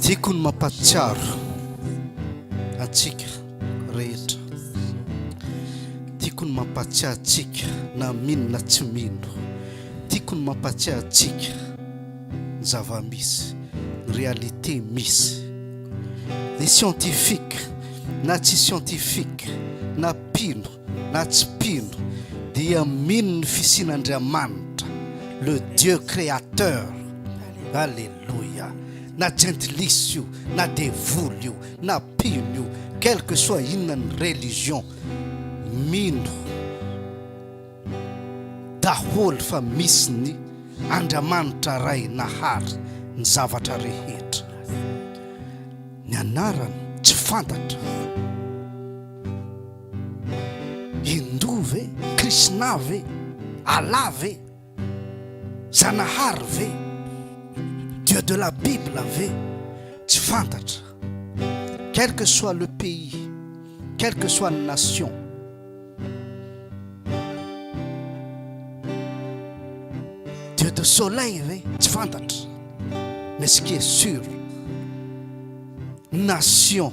Tiako ny mampatsiaro antsika rehetra. Tiako ny mampatsiaro antsika na mino na tsy mino. Tiako ny mampatsiaro antsika ny zava-misy, ny réalité misy. Ny scientifique na tsy scientifique na mpino na tsy mpino dia mino ny fisian' Andriamanitra le Dieu créateur Alléluia na jentilisa io na devoly io na mpino io quel que soit inona ny religion mino daholo fa misy ny Andriamanitra Ray nahary ny zavatra rehetra ny anarany tsy fantatra Hindoa ve? Krisna ve? Allah ve? Zanahary ve? Dieu de la Bible ve? Tsy fantatra. Quel que soit le pays, quel que soit ny nation, Dieu de soleil ve? Tsy fantatra. Mais ce qui est sûr, nation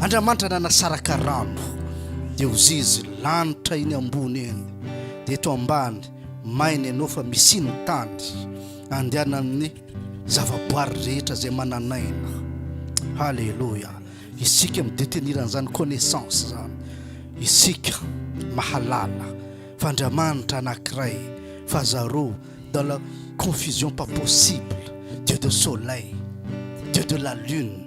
Andramanitra nanasaraka rano dia ho zizy lanitra eny ambony eny dia eto ambany maina ianao fa misy ny tany andehanan'ny zavaboary rehetra izay mananaina haleloia isika midetenir an'izany connaissance zany isika mahalala fa andriamanitra anakiray fa zareo dans la confusion pas possible dieu de soleil dieu de la lune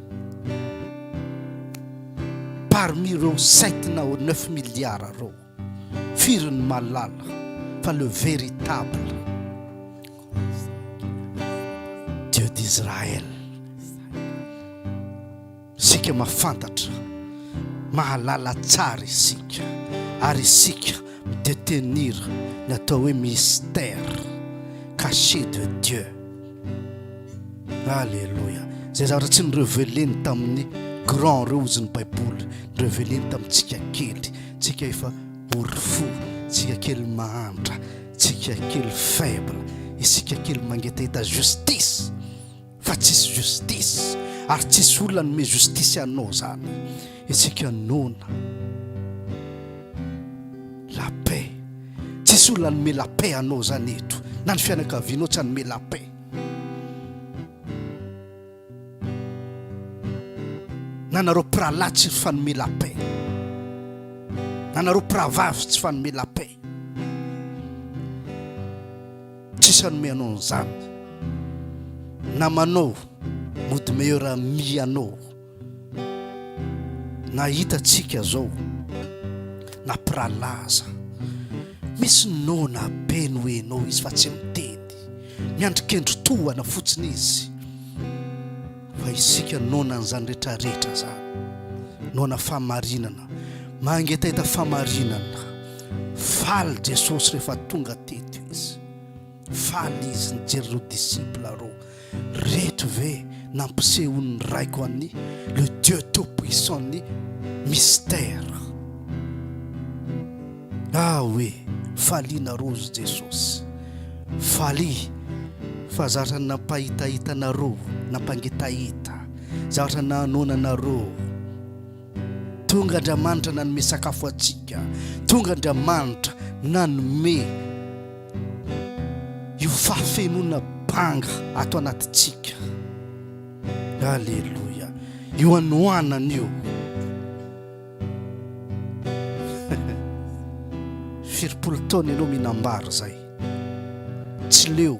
parmi ireo sept na neuf milliards ireo firy ny mahalala fa le véritable Dieu d'Israël isika mahafantatra mahalala tsara isika ary isika midetenir ny atao hoe mystère caché de Dieu Alléluia. Zay zavatra tsy nireveleny tamin'ny grand reo ozy ny baiboly nireveleny tamintsika kely tsika efa orifo tsika kely mahantra tsika kely faible isika kely mangetaheta justice fa tsisy justice ary tsisy olona nome justice anao zany Isika noana la paix tsisy olona nome la paix anao zany eto na ny fianakavianao tsy anome la paix na nareo piralahy tsy fanome la paix na nareo piravavy tsy fanome la paix tsisy anome anao an'izany namanao mody meilleur ami anao Na hitantsika zao na mpirahalahy aza misy noana be noenao izy fa tsy miteny, miandry kendry tohana fotsiny izy fa isika noana an'izany rehetra rehetra zany, noana famarinana, mangetaheta famarinana, faly Jesosy rehefa tonga teto izy, faly izy nijery ireo disciple reo. reto ve nampisehon'ny raiko an'i le Dieu tout puissant ny mystère ah oui faliana rozy Jesosy faly fa zatra nampahitahita anareo nampangitahita zatra nahanoana anareo tonga Andriamanitra nanome sakafo antsika tonga Andriamanitra nanome Io fahafenoana banga ato anatintsika. Aleloia. Io anoanana io. Firimpolo taona ianao minambara zay. Tsy leo.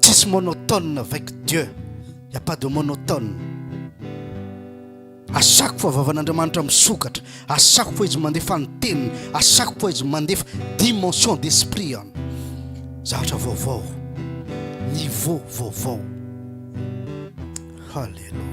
Tsisy monotone avec Dieu, il n'y a pas de monotone. Asako fa vavan'Andriamanitra misokatra, asako fa izy mandefa ny teniny, asako fa izy mandefa dimension d'esprit an. Zavatra vaovao, niveau vaovao. Hallelujah.